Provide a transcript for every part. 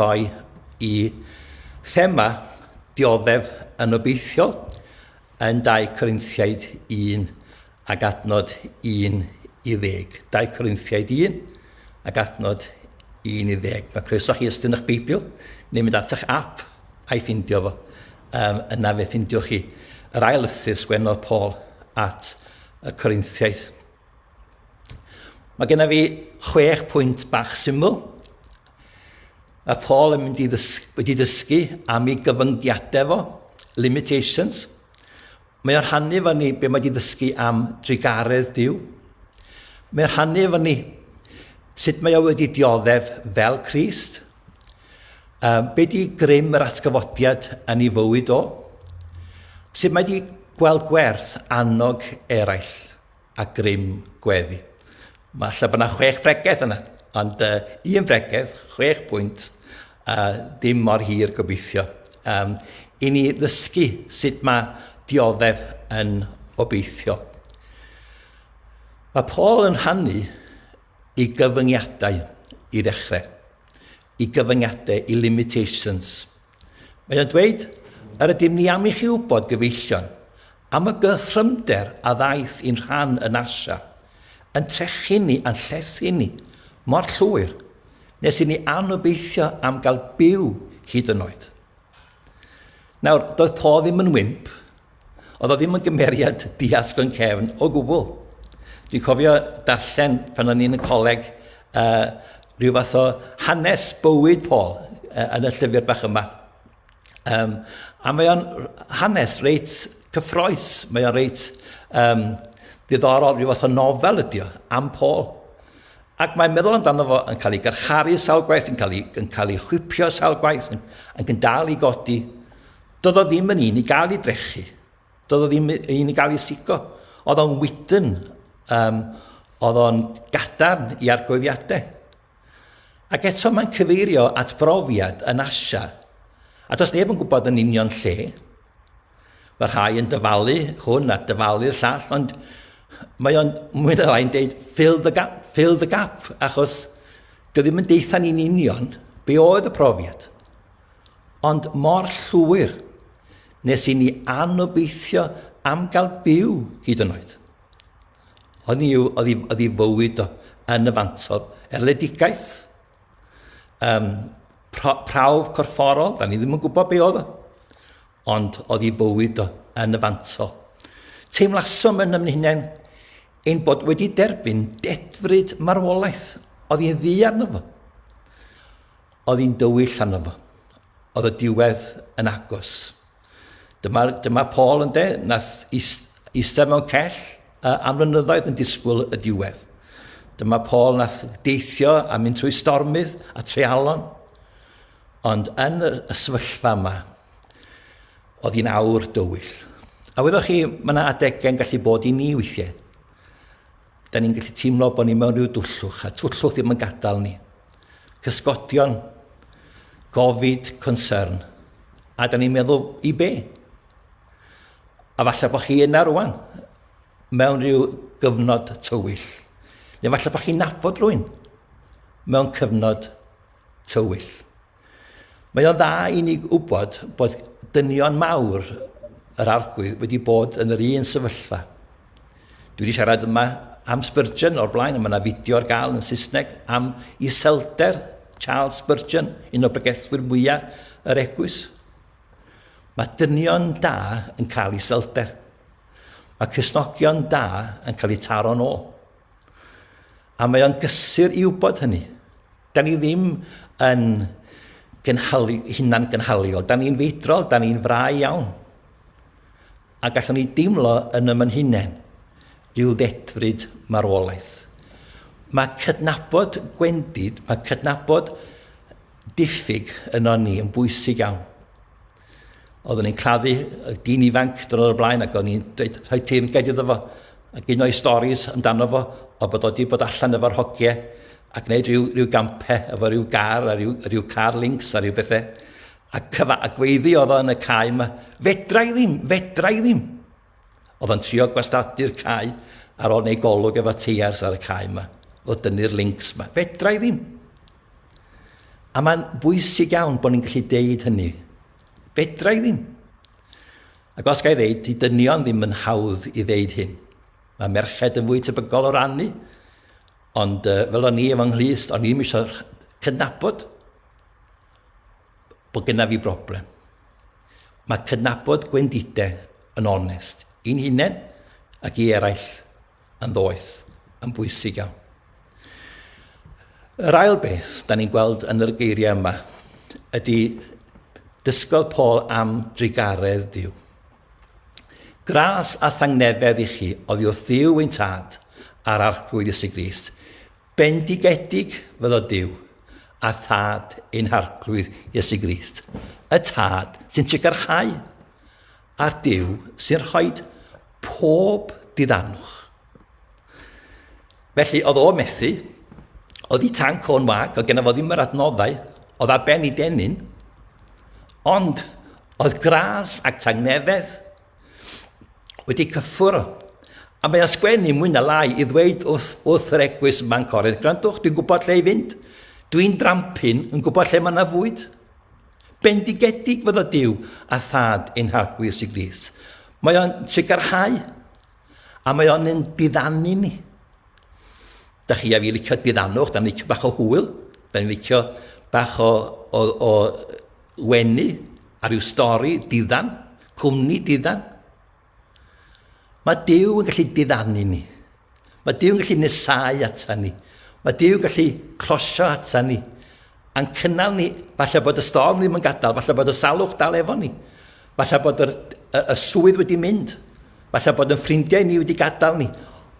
Mae y thema dioddef yn obeithiol yn 2 Corinthiaid 1 ac adnod 11. 2 Corinthiaid 1 ac adnod 11. Mae croeso chi ystyn eich Beibl neu mynd at eich app a'i ffindio fo. Um, yna fe ffindio chi yr ail lythyr sgwennodd Paul at y Corinthiaid. Mae genna fi chwech pwynt bach syml Mae Paul yn mynd i ddysgu, wedi dysgu am ei gyfyngiadau fo, limitations. Mae o'n rhannu efo ni be mae wedi ddysgu am drugaredd Dyw. Mae o'n rhannu efo ni sut mae o wedi dioddef fel Christ. Um, be di grym yr atgyfodiad yn ei fywyd o? Sut mae wedi gweld gwerth annog eraill? a grym gweddi. Mae lle bod yna chwech bregeth yna, ond uh, un bregeth, chwech pwynt, a uh, ddim mor hir gobeithio. Um, I ni ddysgu sut mae dioddef yn obeithio. Mae Paul yn rhannu i gyfyngiadau i ddechrau, i gyfyngiadau, i limitations – Mae o'n dweud, Yr ydym ni am i chi wybod, gyfeillion, am y gythrymder a ddaeth i'n rhan yn Asia, yn trechu ni a'n llethu ni mor llwyr nes i ni anobeithio am gael byw hyd yn oed. Nawr, doedd Paul ddim yn wimp, Oedd o ddim yn gymeriad diasg o'n cefn o gwbl. Dwi'n cofio darllen pan o'n i'n y coleg uh, rhyw fath o hanes bywyd Paul uh, yn y llyfr bach yma. Um, a mae o'n hanes reit cyffroes, mae o'n reit um, diddorol, rhyw fath o nofel ydy o, am Paul. Ac mae'n meddwl amdano fo yn cael ei garcharu sawl gwaith, yn cael ei, yn cael ei chwipio sawl gwaith, yn, yn dal i godi. Doedd o ddim yn un i gael ei drechu. Doedd o ddim yn i gael ei sigo. Oedd o'n wydyn. Um, oedd o'n gadarn i argoeddiadau. Ac eto mae'n cyfeirio at brofiad yn Asia. A does neb yn gwybod yn union lle. Mae rhai yn dyfalu hwn a dyfalu'r llall, ond mae o'n mwy na lai'n deud fill the gap, fill the gap, achos dwi ddim yn deitha ni'n union be oedd y profiad. Ond mor llwyr nes i ni anobeithio am gael byw hyd yn oed. Oedd ni, oedd i, oedd i fywyd o yn y fantol erledigaeth. Um, pra, prawf corfforol, da ni ddim yn gwybod be oedd o. Ond oedd i fywyd o yn y fantol. Teimlasom yn ymwneud ein bod wedi derbyn dedfryd marwolaeth oedd i'n ddi arno fo. Oedd hi'n dywyll arno fo. Oedd y diwedd yn agos. Dyma, dyma Paul yn de, nath eistedd mewn cell am flynyddoedd yn disgwyl y diwedd. Dyma Paul nath deithio a mynd trwy stormydd a treialon. Ond yn y, y sefyllfa yma, oedd hi'n awr dywyll. A wyddoch chi, mae yna adegau'n gallu bod i ni weithiau. Da ni'n gallu teimlo bod ni mewn rhyw dwllwch, a twllwch ddim yn gadael ni. Cysgodion, gofid, concern. A da ni'n meddwl, i be? A falle bod chi yna rwan, mewn rhyw gyfnod tywyll. Neu falle bod chi'n nabod rwy'n mewn cyfnod tywyll. Mae o'n dda i ni wybod bod dynion mawr yr arglwydd wedi bod yn yr un sefyllfa. Dwi wedi siarad yma am Spurgeon o'r blaen, mae yna fideo ar gael yn Saesneg am iselder Charles Spurgeon, un o bregethwyr mwyaf yr egwys. Mae dynion da yn cael ei selder. Mae cysnogion da yn cael eu taro'n ôl. A mae o'n gysur i wybod hynny. Da ni ddim yn gynhalu, hunan gynhaliol. Da ni'n feidrol, da ni'n frau iawn. A gallwn ni deimlo yn ymyn hunain rhyw ddedfryd marwolaeth. Mae cydnabod gwendid, mae cydnabod diffyg yno ni yn bwysig iawn. Oeddwn i'n claddu y dyn ifanc dyn o'r blaen ac o'n i'n dweud rhoi teyrnged iddo fo ac un o'i storis amdano fo o bod o wedi bod allan efo'r hogiau ac wneud rhyw, rhyw gampau efo rhyw gar a rhyw, rhyw car links a rhyw bethau. A cyfa a gweiddi oedd o yn y cae yma, fedra i ddim, fedra i ddim. Oedd o'n trio gwastadu'r cae ar ôl neu golwg efo teiars ar y cae yma, o dynnu'r links yma. Fedra i ddim. A mae'n bwysig iawn bod ni'n gallu deud hynny. Fedra i ddim. Ac os gael ddeud, i dynion ddim yn hawdd i ddeud hyn. Mae merched yn fwy tebygol o rannu, ond uh, fel o'n i efo nghlust, o'n i'n eisiau cydnabod bod gyda fi broblem. Mae cydnabod gwendidau yn onest i'n hunain ac i eraill. yn ddoeth, yn bwysig iawn. Yr ail beth, da ni'n gweld yn yr geiriau yma, ydy dysgodd Paul am drugaredd Dyw. Gras a thangnefedd i chi oddi wrth Ddyw ein tad a'r arglwydd Iesu Grist. Bendigedig fyddo Dyw a thad ein harglwydd Iesu Grist. Y tad sy'n trigarchau Ar Duw sy'n rhoi pob diddanwch. Felly, oedd o methu, oedd i tanc o'n wag, oedd gen fo ddim yr adnoddau, oedd ar ben i denyn, ond oedd gras ac tangnefedd wedi cyffwrdd. A mae o'n sgwennu mwy na lai i ddweud wrth, wrth yr egwys yma'n corydd, gwrandwch, dwi'n gwybod lle i fynd, dwi'n drampin yn gwybod lle mae yna fwyd. Bendigedig fydd y Duw a Thad ein Harglwyr sy'n Grist. Mae o'n sicrhau a mae o'n yn diddanu ni. Da chi a fi licio diddannwch, da ni'n licio bach o hwyl, da ni'n licio bach o, o, o wenu ar ryw stori diddan, cwmni diddan. Mae Dyw yn gallu diddanu ni. Mae Dyw yn gallu nesau ata ni. Mae Dyw yn gallu closio ata ni. A'n cynnal ni, falle bod y storm ddim yn gadael, falle bod y salwch dal efo ni. Falle bod y, y, y swydd wedi mynd. Falle bod yn ffrindiau ni wedi gadael ni.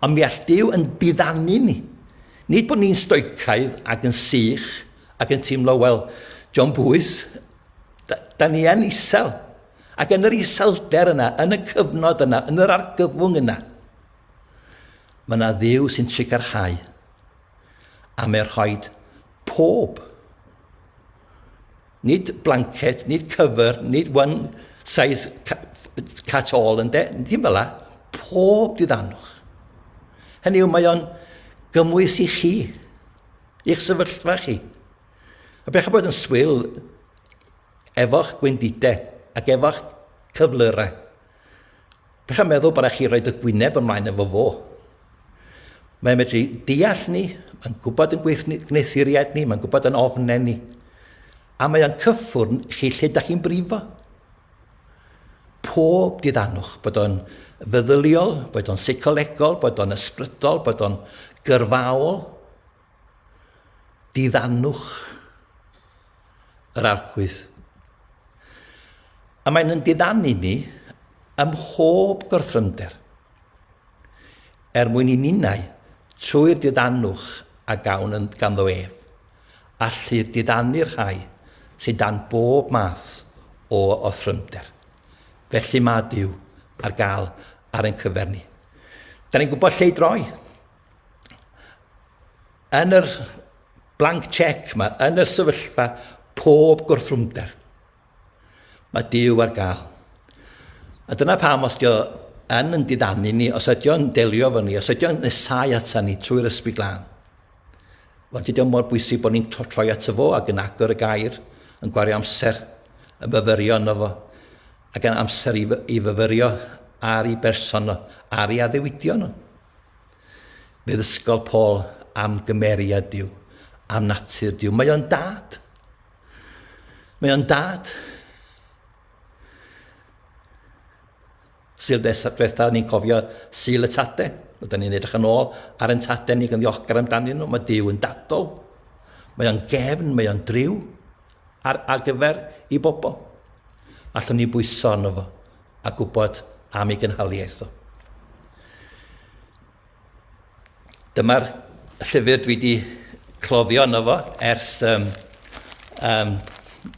Ond mi all Dyw yn diddanu ni. Nid bod ni'n stoicaidd ac yn sych ac yn teimlo, wel, John Bwys, da, da ni yn isel. Ac yn yr iselder yna, yn y cyfnod yna, yn yr argyfwng yna, mae yna dduw sy'n sicrhau a mae rhoi pob, nid blanket, nid cyfer, nid one size cat all, yn de, dim fel la, pob diddanwch. Hynny yw, mae o'n gymwys i chi, i'ch sefyllfa chi. A bech a bod yn swil efo'ch gwendidau ac efo'ch cyflyrau. Bech a meddwl bod chi roed y gwyneb ymlaen efo fo. Mae'n medru deall ni, mae'n gwybod yn gwneuthuriad ni, mae'n gwybod yn ofnau ni. A mae o'n cyffwrn chi lle da chi'n brifo. Pob diddanwch, bod o'n feddyliol, bod o'n seicolegol, bod o'n ysbrydol, bod o'n gyrfaol, Diddannwch yr archwydd. A mae'n yn diddannu ni ym mhob gorthrymder, er mwyn i ninnau, trwy'r diddannwch a gawn yn ganddo ef, allu diddannu'r rhai sydd dan bob math o orthrymder. Felly mae Duw ar gael ar ein cyfer ni. Da ni'n gwybod lle i droi. yn yr blank check mae yn y sefyllfa pob gwrthrwmder. Mae Dyw ar gael. A dyna pam os dio yn yn didanu ni, os ydy o'n delio fo ni, os ydy o'n nesau ata ni trwy'r ysbryd glân, Wel, dydy o mor bwysig bod ni'n troi at y fo ac yn agor y gair, yn gwario amser, yn fyfyrio yno fo, ac yn amser i, i fyfyrio ar ei berson nhw, ar ei addewidion nhw. Bydd ysgol Paul am gymeriad Dyw, am natur Dyw. Mae o'n dad. Mae o'n dad. Syl beth diwetha, ni'n cofio syl y tade. Oedden ni'n edrych yn ôl ar yn tade ni gan ddiolchgar amdanyn nhw. Mae Dyw yn dadol. Mae o'n gefn, mae o'n driw ar, ar gyfer i bobl. Allwn ni bwyso arno fo. a gwybod am ei gynhaliaeth o. Dyma'r llyfr dwi wedi cloddio yno fo ers um, um,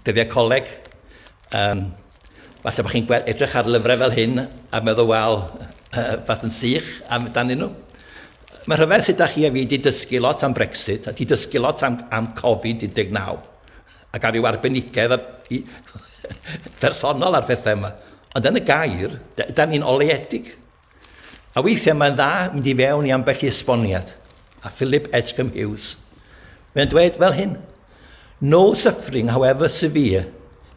dyddiau coleg. Um, falle bod chi'n edrych ar lyfrau fel hyn a meddwl, wel, uh, fath yn sych amdanyn nhw. Mae rhyfedd sut da chi a fi wedi dysgu lot am Brexit a wedi dysgu lot am, am Covid-19. ac ar ryw arbenigedd personol ar phethau yma. Ond yn y gair, da ni'n oleedig. A weithiau mae'n dda mynd i fewn i ambell i esboniad. A Philip Edgecombe Hughes, mae'n dweud fel hyn, No suffering, however severe,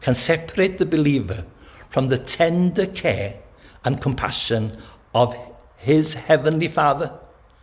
can separate the believer from the tender care and compassion of his heavenly Father.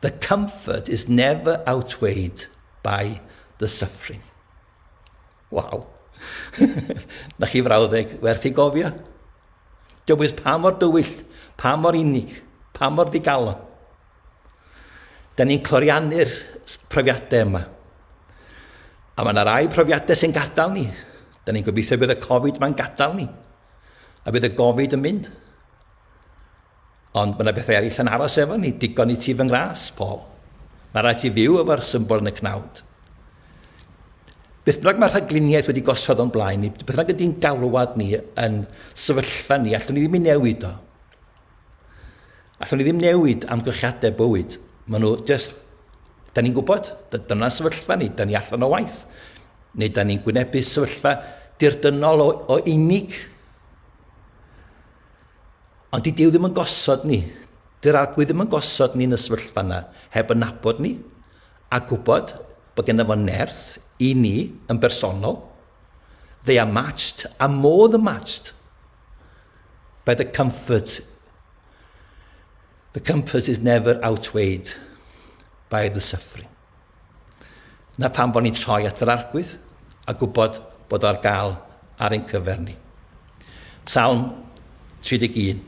The comfort is never outweighed by the suffering. Waw. Na chi frawddeg werth ei gofio? Dywys pa mor dywyll, pa mor unig, pa mor ddigalon. Da ni'n cloriannu'r profiadau yma. A mae yna rai profiadau sy'n gadael ni. Da ni'n gobeithio bydd y Covid yma'n gadael ni. A bydd y Covid yn mynd. Ond mae 'na bethau eraill yn aros efo ni, digon i ti fy ngras, Paul. Mae rhaid ti fyw efo'r symbol yn y cnawd. Beth bynnag mae rhagluniaeth wedi gosod o'n blaen ni, beth bynnag ydy'n galwad ni yn sefyllfa ni, allwn ni ddim i newid o. Allwn ni ddim newid amgylchiadau bywyd. Mae nhw just, da ni'n gwybod, dyna sefyllfa ni, da ni allan o waith. Neu da ni'n gwynebu sefyllfa dirdynol o, o unig. Ond di Duw ddim yn gosod ni, dy'r Arglwydd ddim yn gosod ni'n y sefyllfa yna heb yn nabod ni a gwybod bod gennym fo nerth i ni yn bersonol. They are matched a more than matched by the comfort. The comfort is never outweighed by the suffering. Na pam bod ni'n troi at yr Arglwydd a gwybod bod o ar gael ar ein cyfer ni. Salm 31.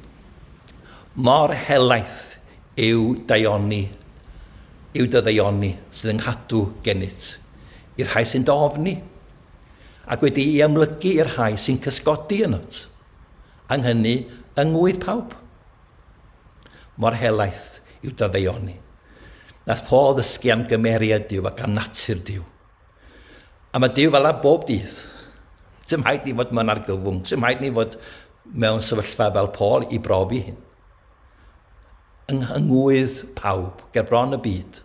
Mor helaeth yw daioni, yw dy ddaioni sydd yn nghadw gennyt, i'r rhai sy'n dofni, ac wedi i amlygu i'r rhai sy'n cysgodi ynot. Ang hynny yng ngwydd pawb. Mor helaeth yw dy ddaioni. Nath Paul ddysgu am gymeriad Duw ac am natur Duw. A mae Duw fel a bob dydd. Dim haid ni fod mewn argyfwng. Dim haid ni fod mewn sefyllfa fel Paul i brofi hyn. Yng ngwydd pawb, ger bron y byd,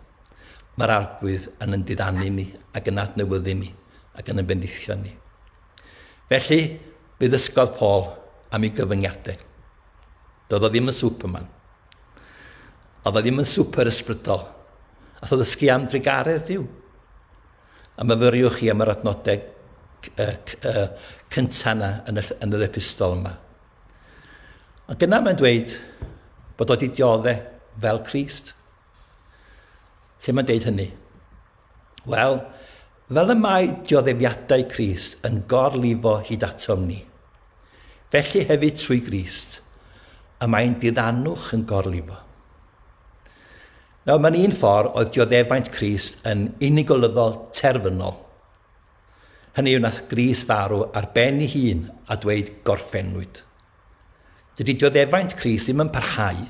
mae'r arglwydd yn yn diddanu ni ac yn adnewyddu ni ac yn yn bendithio ni. Felly, fe ddysgodd Paul am ei gyfyngiadau. Doedd o ddim yn Superman. Oedd o ddim yn super ysbrydol. A tho ddysgu am drugaredd Dyw. A myfyriwch chi am yr adnodau cyntaf yna yn, yn yr epistol yma. Ond dyna mae'n dweud bod o wedi dioddau fel Christ. Lle mae'n dweud hynny? Wel, fel y mae dioddefiadau Crist yn gorlifo hyd atom ni, felly hefyd trwy Grist, y mae ein diddanwch yn gorlifo. Nawr, mae'n un ffordd oedd dioddefaint Crist yn unigolyddol terfynol. Hynny yw, nath Gris farw ar ben ei hun a dweud gorffennwyd. Dydy dioddefaint Cris ddim yn parhau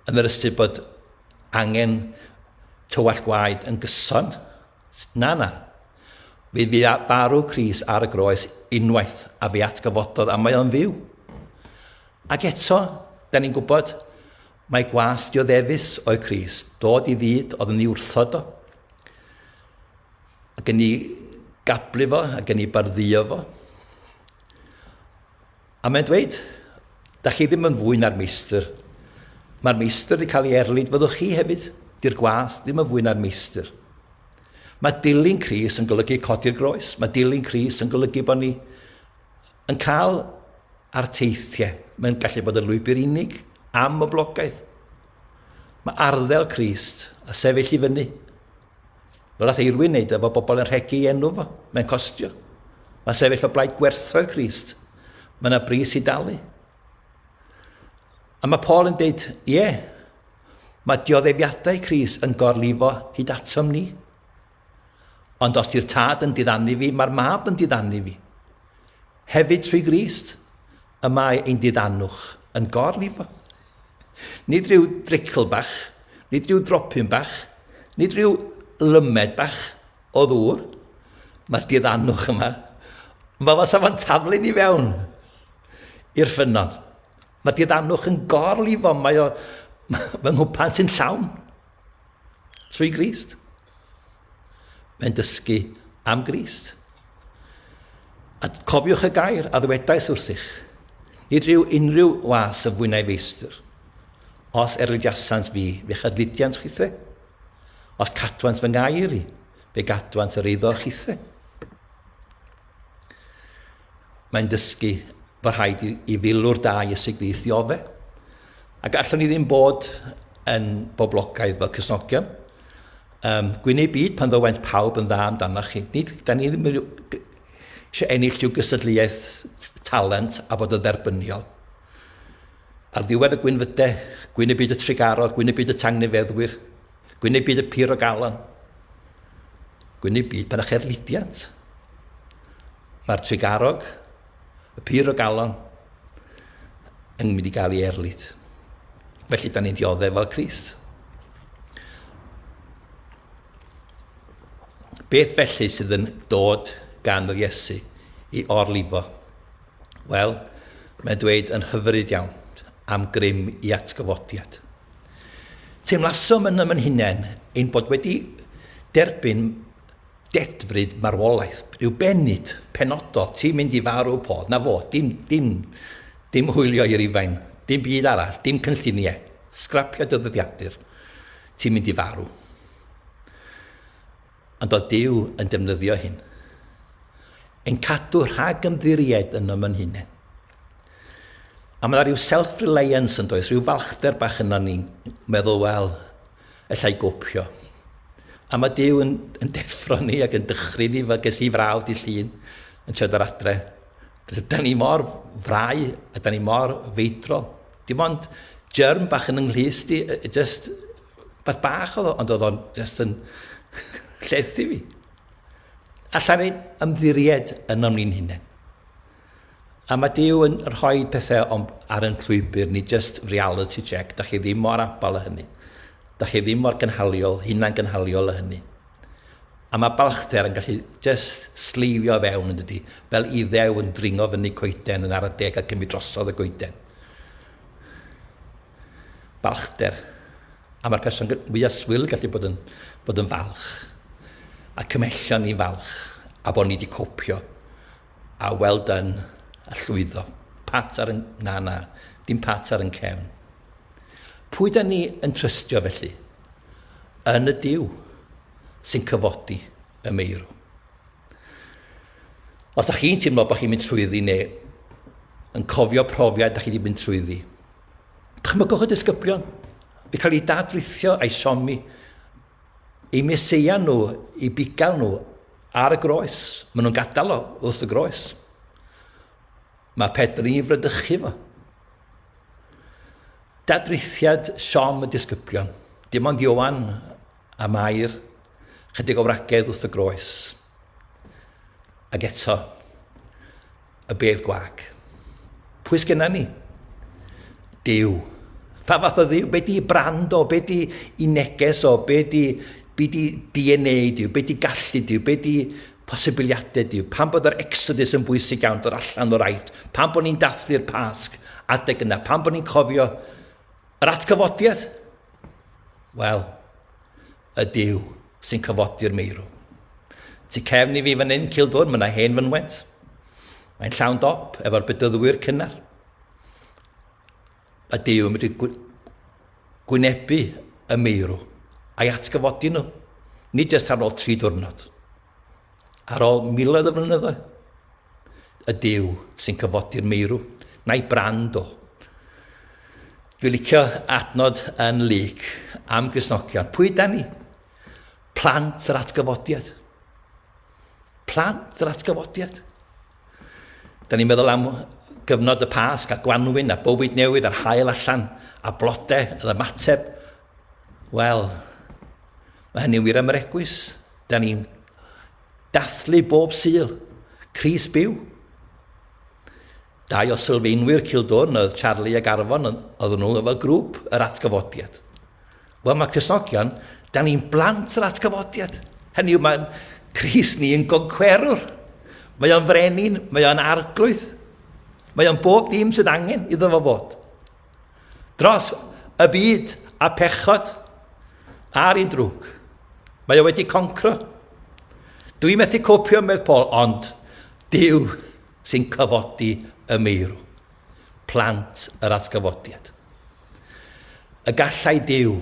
yn yr ystyr bod angen tywallt gwaed yn gyson. Na, na. Fe fu farw Cris ar y groes unwaith a fe atgyfododd a mae o'n fyw. Ac eto, da ni'n gwybod, mae gwas dioddefus o'i Cris, dod i fyd oedd yn ei wrthod o, ac yn ei gablu fo, ac yn ei barddio fo. A mae'n dweud, da chi ddim yn fwy na'r meistr. Mae'r meistr wedi cael ei erlid, fyddwch chi hefyd. Di'r gwas ddim yn fwy na'r meistr. Mae dilyn Cris yn golygu codi'r groes. Mae dilyn Cris yn golygu bod ni yn cael ar teithiau. Mae'n gallu bod yn lwybr unig, am y blogaeth. Mae arddel Crist a sefyll i fyny Fel all Eirwyn wneud efo bobl yn rhegi ei enw fo, mae'n costio. Mae sefyll o blaid gwerthoedd Christ. Mae yna bris i dalu. A mae Paul yn dweud, ie, yeah, mae dioddefiadau Christ yn gorlifo hyd atom ni. Ond os di'r tad yn diddannu fi, mae'r mab yn diddannu fi. Hefyd trwy Grist. Y mae ein diddanwch yn gor ni fo. Nid rhyw dricl bach, nid rhyw dropyn bach, nid rhyw lymed bach o ddŵr. Mae diddanwch yma. Mae fo safon taflu ni fewn i'r ffynnon. Mae diddanwch yn gor lifo, mae o fy nghwpan sy'n llawn. Trwy grist. Mae'n dysgu am Grist. A cofiwch y gair a ddywedais wrthych, nid rhyw unrhyw was y fwynau feistr. Os erlydiasant fi, fe chydlydiant chithe. Os cadwant fy ngair i, fe gadwant yr eiddo chithe. Mae'n dysgu fod rhaid i, i filwr da i ysigddiaethu ofe. A gallwn ni ddim bod yn boblogaidd fel cysnogion. Um, gwyneb byd pan ddywent pawb yn dda amdanoch chi. Nid, da ni ddim eisiau ennill rhyw gysadleuaeth talent a bod yn dderbyniol. Ar ddiwedd y gwynfydau, gwyneb byd y trigaro, gwyneb byd y tangnefeddwyr, gwyneb byd y pur o galon, gwyneb byd pan eich erlidiant. Mae'r Tregarog, y pur o galon, yn mynd i gael ei erlid. Felly, da ni'n dioddef fel Crist. Beth felly sydd yn dod gan yr Iesu i orlifo? Wel, mae'n dweud yn hyfryd iawn am grym i atgyfodiad. Teimlasom yn ymyn hunain ein bod wedi derbyn Dedfryd marwolaeth yw bennid penodol, ti'n mynd i farw pod, 'na fo, dim, dim, dim hwylio i Rufain, dim byd arall, dim cynlluniau, sgrapio dy ddyddiadur, ti'n mynd i farw. Ond oedd Duw yn defnyddio hyn? Yn cadw rhag ymddiried yn ym yn hunain. A mae yna rhyw self-reliance yn does, rhyw falchder bach yna ni'n meddwl, wel, allai gopio. A mae Dyw yn, yn deffro ni ac yn dychryn ni, fe ges i frawd di llun yn siarad ar adre. Da ni mor frau a da ni mor feidrol. Dim ond germ bach yn ynglhys di, just beth bach oedd o, ond oedd o'n just yn llethu fi. Alla ni ymddiried yn o'n ni'n hunain. A mae Duw yn rhoi pethau o'n, ar yn llwybr ni, just reality check. Da chi ddim mor abal â hynny. Da chi ddim mor gynhaliol, hunan gynhaliol â hynny. A mae balchder yn gallu just sleifio fewn yn dydy, fel i ddew yn dringo fyny coeden yn ara deg a cymryd drosodd y goeden. Balchder. A mae'r person fwyaf swil yn gallu bod yn, bod yn falch. A cymhellion ni falch. A bod ni wedi copio. A well done, a llwyddo. Pat ar y... Na, na, dim pat ar yn cefn. Pwy da ni yn trystio felly? Yn y Duw sy'n cyfodi y meirw. Os da chi'n teimlo bod chi'n mynd trwyddi neu yn cofio profiad da chi wedi mynd trwyddi, dychmygwch y disgyblion i cael ei dadrithio a'i siomi, ei meseia nhw, ei bugail nhw Ar y groes. Maen nhw'n gadael o wrth y groes. Mae Pedr i fradychu fo. Dadrithiad siom y disgyblion. Dim ond Ioan a Mair, chydig o wragedd wrth y groes. Ac eto. y bedd gwac. Pwy sgynna ni? Dyw. Pa fath o ddiw? Be di brand o? Be di i neges o? Be di, be di DNA diw? Be di gallu diw? Be di posibiliadau diw? Pan bod yr exodus yn bwysig iawn dod allan o'r aifft? Pan bod ni'n dathlu'r pasg adeg yna? Pan bod ni'n cofio yr atgyfodiad? Wel, Y Duw sy'n cyfodi'r meirw. Tu cefn i fi fan hyn, Cildwr, mae yna hen fynwent. Mae'n llawn dop efo'r bedyddwyr cynnar. Y Duw yn mynd i gwynebu y meirw a'i atgyfodi nhw. Nid jyst ar ôl tri diwrnod. Ar ôl miloedd o flynyddoedd. y Duw sy'n cyfodi'r meirw, na'i brand o. Dwi'n licio adnod yn Luc am Gristnogion. Pwy da ni? Plant yr atgyfodiad. Plant yr atgyfodiad. Da ni'n meddwl am gyfnod y Pasg a gwanwyn a bywyd newydd a'r hael allan a blodau yr ymateb. Wel, mae hynny'n wir am yr egwys. Da ni'n Dathlu bob Sul! Crys byw! Dau o sylfaenwyr Cildwrn oedd Charlie ac Arfon oedd nhw efo grŵp yr atgyfodiad. Wel mae Crisnogion, da ni'n blant yr atgyfodiad. Hynny yw mae'n Cris ni yn goncwerwr. Mae o'n frenin, mae o'n arglwydd. Mae o'n bob dim sydd angen iddo fo fod. dros y byd a phechod ar ei drwg. Mae o wedi concro. Dwi methu copio, medd Paul, ond Dyw sy'n cyfodi y meirw, plant yr atgyfodiad. Y gallai Dyw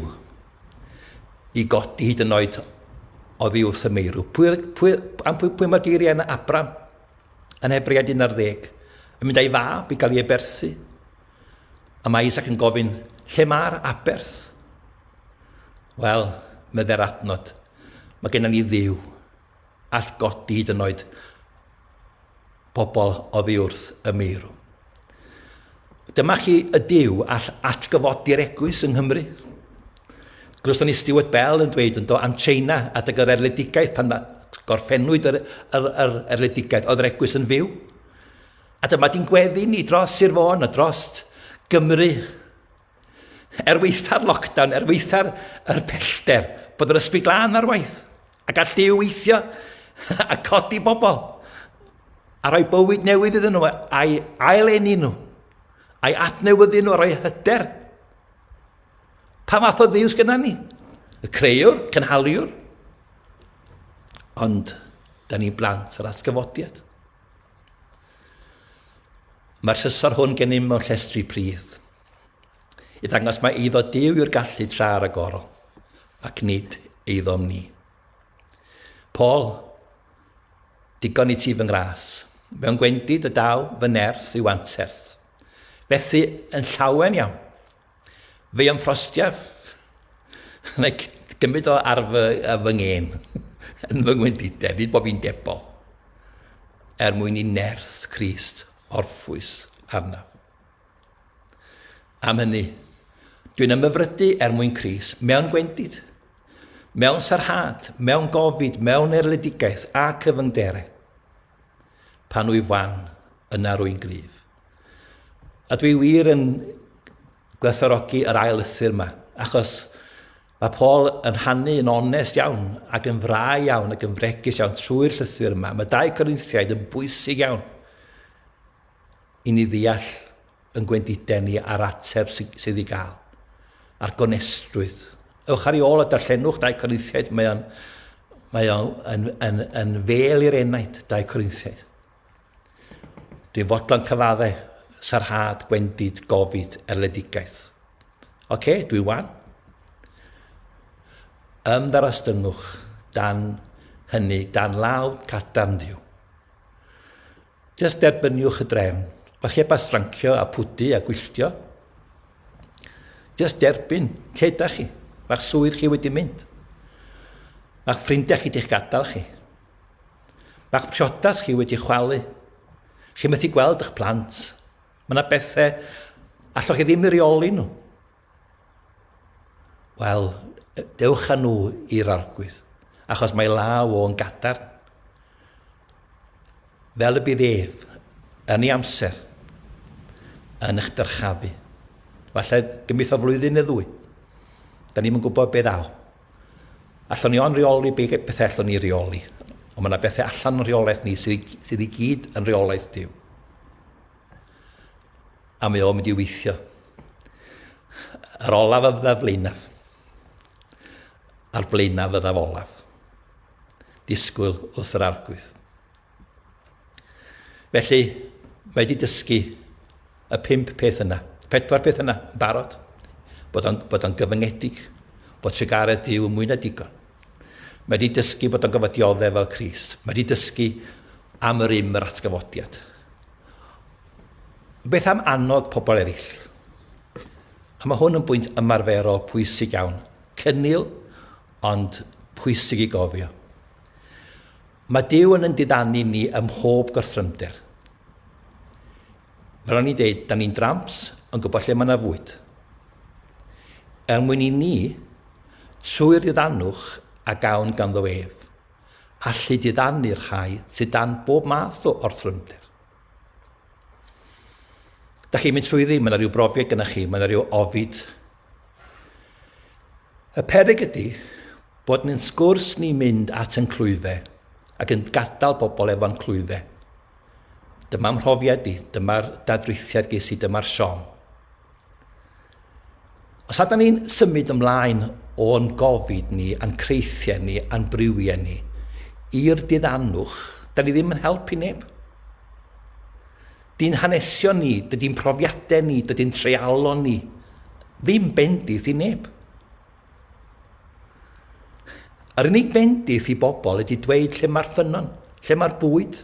i godi hyd yn oed o ddi wrth y meirw. Pwy, pwy, am pwy, pwy mae geiriau yna Abram yn Hebread 11? Yn mynd a'i fab i gael ei eberthu. A mae Isaac yn gofyn, lle mae'r aberth? Wel, meddai'r adnod, mae gennym ni ddiw, all godi hyd yn oed pobl oddi wrth y meirw. Dyma chi y diw all atgyfodi'r egwys yng Nghymru. Glywson ni Stuart Bell yn dweud yn do am China adeg yr erledigaeth pan gorffennwyd yr, yr, yr erledigaeth, oedd yr egwys yn fyw. A dyma di'n gweddi ni dros Sir Fôn a dros Gymru. Er weitha'r lockdown, er weitha'r er pellter, bod yr ysbryd glân ar waith, a gall Dyw weithio a codi bobl, a rhoi bywyd newydd iddyn nhw, a'i aileni nhw, a'i adnewyddu nhw, a rhoi hyder. Pa fath o ddiw sgynna ni? Y creuwr, cynhaliwr. Ond, da ni blant yr atgyfodiad. Mae'r llysor hwn gennym mewn llestri pridd, i ddangos mae eiddo Dyw yw'r gallu tra ar y gorol, ac nid eiddom ni. Paul, digon i ti fy ngras, mewn gwendid y daw fy nerth i'w anterth. Fethu yn llawen iawn. Fi am frostiaf. Like, gymryd o ar fy, ar fy ngên. yn fy ngwendidau, fi bod fi'n debo. Er mwyn i nerth Christ orffwys arnaf. Am hynny, dwi'n ymyfrydu er mwyn Christ mewn gwendid, mewn sarhad, mewn gofid, mewn erledigaeth a cyfyngderau. Pan wyf wan, yna rwy'n gryf. A dwi wir yn gwerthorogi yr ail lythyr yma, achos mae Paul yn rhannu yn onest iawn ac yn fra iawn ac yn fregus iawn trwy'r llythyr yma. Mae dau Corinthiaid yn bwysig iawn i ni ddeall yn gwendiden ni a'r ateb sydd i gael, a'r gonestrwydd. Ewch ar ei ôl a darllenwch dau Corinthiaid, mae o'n mae o'n yn, yn, yn fel i'r enaid, dau Corinthiaid. Dwi'n fodlon cyfadde, sarhad, gwendid, gofid, erledigaeth. OK, dwi wan. Ymddarostyngwch dan hynny, dan law cadarn Dduw. Just derbyniwch y drefn, o'ch heb a strancio a pwdu a gwylltio. Just derbyn, lle ydych chi? Mae'ch swydd chi wedi mynd. Mae'ch ffrindiau chi di'ch gadael chi. Mae'ch priodas chi wedi chwalu. Chi methu gweld eich plant. Mae yna bethau allwch chi ddim i reoli nhw. Wel, dewch â nhw i'r arglwydd, achos mae law o'n gadar. Fel y bydd ef, yn ei amser, yn eich dyrchafu. Falle gymith o flwyddyn neu ddwy. Da ni'n gwybod beth aw. Allwn ni ond reoli be bethau allwn ni reoli. Ond mae yna bethau allan yn rheolaeth ni sydd, sydd i gyd yn rheolaeth diw. A mae o'n mynd i weithio. Yr olaf y fydda flaenaf. A'r blaenaf fydda olaf. Disgwyl wrth yr arglwydd. Felly, mae wedi dysgu y pimp peth yna, pedwar peth yna, yn barod, bod o'n, bod o'n gyfyngedig, bod trugaredd Dyw yn mwy na digon. Mae wedi dysgu bod o'n gofod dioddef fel Cris. Mae wedi dysgu am yr im yr atgyfodiad. Beth am annog pobl eraill? A mae hwn yn bwynt ymarferol pwysig iawn. Cynnil, ond pwysig i gofio. Mae Duw yn yn diddanu ni ym mhob gorthrymder. Fel o'n i'n deud, da ni'n dramps yn gwybod lle mae yna fwyd. Er mwyn i ni, trwy'r diddanwch a gawn ganddo ef, allu diddanu'r rhai sydd dan bob math o orthrymder. Da chi'n mynd trwyddi, mae yna rhyw brofiad gyda chi, mae yna rhyw ofid Y peryg ydy bod yn sgwrs ni'n mynd at yn clwyfe ac yn gadael bobl efo'n clwyfe. Dyma mhrofiad i, dyma'r dadrithiad ges i, dyma'r siom. Os ydyn ni'n symud ymlaen o'n gofid ni, a'n creithiau ni, a'n briwiau ni, i'r diddannwch, da ni ddim yn helpu neb. Dy'n hanesion ni, dydy'n profiadau ni, dydy'n treialon ni ddim bendith i neb. Yr unig fendith i bobl ydy dweud lle mae'r ffynnon, lle mae'r bwyd.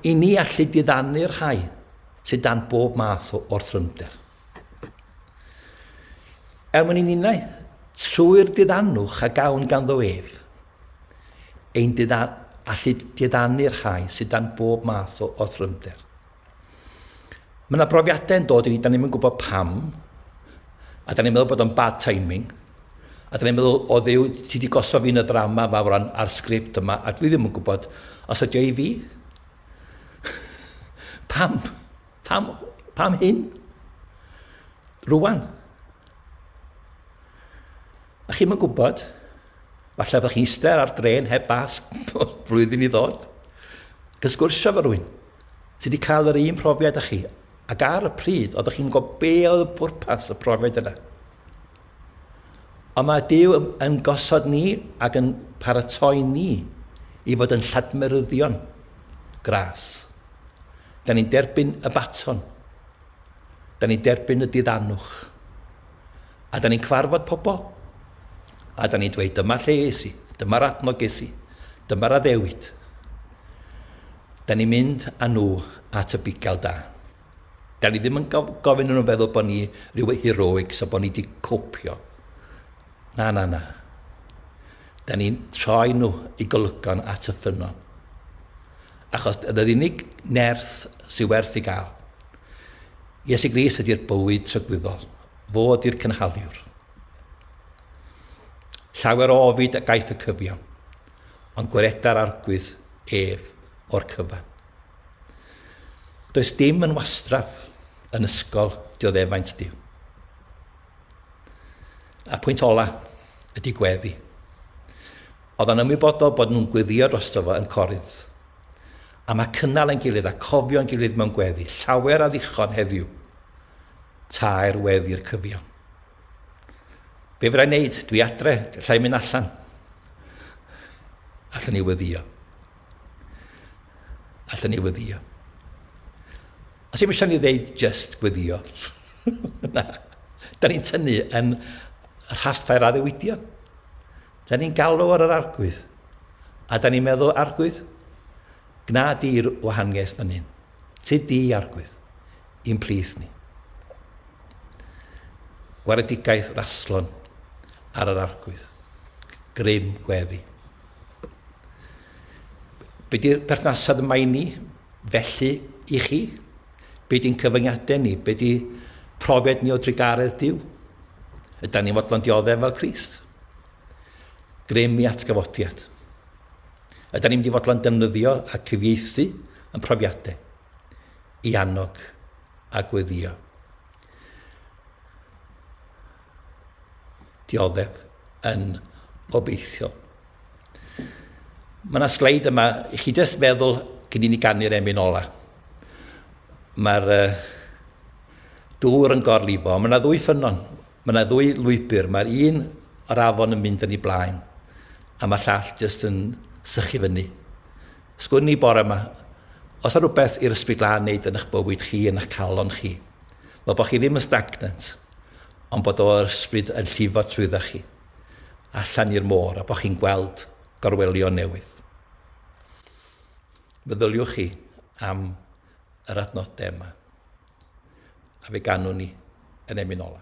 I ni allu diddanu'r rhai sydd dan bob math o orthrymder. Er mwyn i ninnau, trwy'r diddanwch a gawn ganddo ef, ein didda, allu diddanu'r rhai sydd dan bob math o orthrymder. Mae yna brofiadau yn dod i ni, da ni'n mynd gwybod pam, a da ni'n meddwl bod o'n bad timing, a da ni'n meddwl, o ddew, ti wedi gosod fi'n y ddrama yma fawran a'r sgript yma, a dwi ddim yn gwybod os ydi o i fi. pam? Pam, pam hyn? Rwan. A chi'n mynd gwybod, falle fydda chi'n eistedd ar dren heb fas flwyddyn i ddod, gysgwrsio fo rwy'n sydd wedi cael yr un profiad â chi, ac ar y pryd, oeddech chi'n gwybod be oedd y pwrpas y profiad yna. Ond mae Dyw yn gosod ni ac yn paratoi ni i fod yn lladmeryddion gras. Da ni'n derbyn y baton. Da ni'n derbyn y diddanwch. A da ni'n cyfarfod pobl. A da ni'n dweud, dyma lle es i, dyma'r adnodd ges i, dyma'r addewid. Da ni'n mynd â nhw at y bugail da. Da ni ddim yn gofyn nhw'n feddwl bod ni rhyw heroics a bod ni wedi copio. Na, na, na. Da ni'n troi nhw i golygon at y ffynnon. Achos yn yr unig nerth sydd werth ei gael. Iesu Gris ydy'r bywyd trygwyddol. Fo ydy'r cynhaliwr. Llawer o ofid a gaiff y cyfiawn, ond gwereda'r arglwydd ef o'r cyfan. Does dim yn wastraf yn ysgol dioddefaint Dyw. A pwynt ola ydy gweddi. Oedd o'n ymwybodol bod nhw'n gweddïo drosto fo yn Corinth. A mae cynnal ein gilydd a cofio'n gilydd mewn gweddi llawer a ddichon heddiw, taer wedd i'r cyfiawn. Be fydda i'n neud? Dwi adre, lla i'n mynd allan. Allwn ni weddio. Allwn ni weddio. Os i'n eisiau ni ddeud just gweddio. Na. Da ni'n tynnu yn rhallau'r addewidion. Da ni'n galw ar yr Arglwydd. A da ni'n meddwl, Arglwydd, gna di'r wahaniaeth fan hyn. Tyd di, Arglwydd, i'n plith ni. Gwaredigaeth raslon ar yr Arglwydd. Grym gweddi. Be di'r perthnasad yma i ni felly i chi? Be di'n cyfyngiadau ni? Be di profiad ni o drugaredd Dyw? Ydy ni'n fodlon dioddef fel Christ? Grym i atgyfodiad. Yda ni'n mynd i fodlon defnyddio a cyfieithu yn profiadau i annog a gweddio? Dioddef yn obeithiol. Mae yna sleid yma, i chi jyst feddwl gyn i ni ganu'r emyn ola. Mae'r uh, dŵr yn gorlifo, mae yna ddwy ffynnon Mae yna ddwy lwybr, mae'r un o'r afon yn mynd yn ei blaen, a mae'r llall jyst yn sychu fyny. Sgwn i bore yma, os yna rhywbeth i'r ysbryd lan wneud yn eich bywyd chi, yn eich calon chi, fel bod chi ddim yn stagnant, ond bod o'r ysbryd yn llifo trwydda chi, allan i'r môr, a bod chi'n gweld gorwelion newydd. Meddyliwch chi am yr adnodau yma, a fe ganwn ni yn emyn ola.